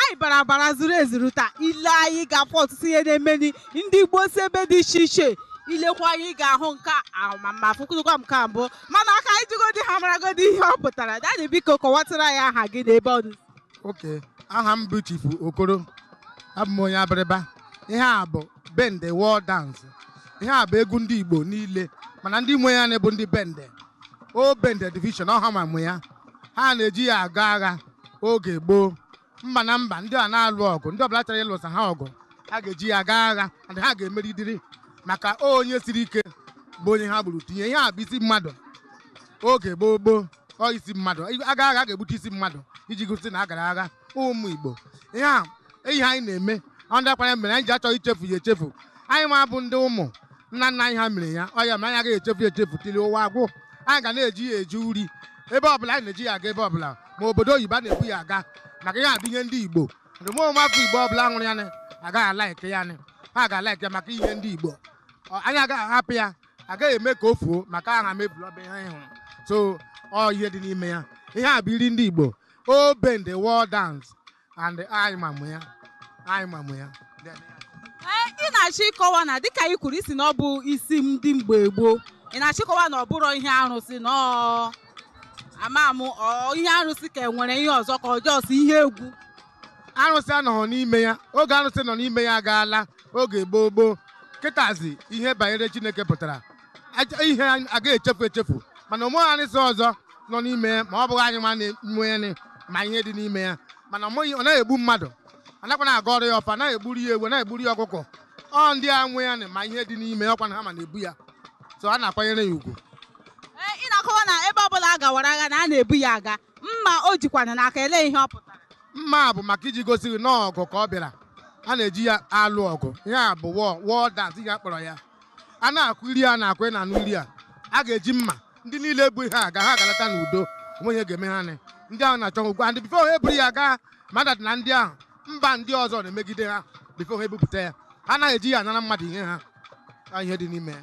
anyị bara abara zuru ezuru taa ile anyị ga-afụ ọtụtụ ihe na-emeni ndị Igbo si ebe dị iche iche ilekwa anyị ga-ahụ nke amama fụkụrụkwa m ka mbụ mana ka anyị jigodi ha maragodi ihe ọ pụtara daddy biko kọwatara ya aha gị na ebe ọ dị okay aha m bụ Chifu Okoro abụ m onye Abịrịba ihe a bụ Bende war dance ihe a bụ egwu ndị Igbo niile mana ndị nwe ya na-ebu ndị Bende ọ Bende division ọ ha ma nwe ya ha na-eji ya aga agha oge gboo mba na mba ndị a na-alụ ọgụ ndị ọbụla chọrọ ịlụsa ha ọgụ ha ga-eji ya gaa agha and ha ga-emeridiri maka onye siri ike bụ onye ha gburu tinye ihe a bụ isi mmadụ oge gboo gboo ọ isi mmadụ a gaa agha ga-egbute isi mmadụ iji gosi na a gara agha ụmụ Igbo ihe a ihe anyị na-eme ọ ndị akwara mere anyị ji achọghị ichefu ya echefu anyị ma bụ ndị ụmụ nna nna anyị ha mere ya ọ ya ma anyị agaghị echefu ya echefu till ụwa agwụ anyị ga na-eji ya eji uri ebe ọbụla anyị na-eji ya aga ebe ọbụla ma obodo oyibo a na-ebu ya aga maka ihe a bụ ihe ndị Igbo ndị ụmụ afọ Igbo ọbụla hụrụ ya agaghị alaike ya ha ga-alaike ya maka ihe ndị Igbo anyị agaghị ahapụ ya agaghị eme ka o fuo maka aha mebiri ọba ihe anyị hụrụ so ọ ihe dị n'ime ya ihe a bụ iri ndị Igbo ọ Bende war dance and anyị ma nwe ya anyị ma nwe ya ee ị na-achọ ịkọwa na dịka ị kwuru isi na ọ bụ isi ndị mgbe gboo ị na-achọ ịkọwa na ọ bụrụ ihe arụsị na ọ ama m ọ ihe arụsị ka enwere ihe ọzọ ka ọ just ihe egwu arụsị anọghọ n'ime ya oge arụsị nọ n'ime ya agaala oge gboo gboo kịtazi ihe banyere Chineke pụtara ihe anyị agaghị echefu echefu mana onweghị arụsị ọzọ nọ n'ime ya ma ọ bụghị anyị ma nwe ya na ma ihe dị n'ime ya mana ọ naghị egbu mmadụ anakwana agọrọ ya ọfọ anaghị egburu ya ewu anaghị egburu ya ọkụkọ ọ ndị a nwe ya na ma ihe dị n'ime ya ọkwa na ha ma na-ebu ya so a na-akwanyere ya ugwu Ee, ị na-akọwa na ebe ọbụla a gawara agha na a na-ebu ya aga mma o jikwana n'aka ele ihe ọ pụtara mma a bụ maka iji gosi gị na ọgụ ka ọ bịara a na-eji ya alụ ọgụ ihe a bụ war dance ihe a kpọrọ ya a na-akụ iri a na-akụ na anụ iri a a ga-eji mma ndị niile bu ihe a gaa ha ga-alata n'udo onweghị ihe ga-eme ha ndị ahụ na-achọ okwu and before ha eburu ya gaa ma that na ndị ahụ mba ndị ọzọ na-emegide ha before ha ebupụta ya ha anaghị eji ya anara mmadụ ihe ha ihe dị n'ime ya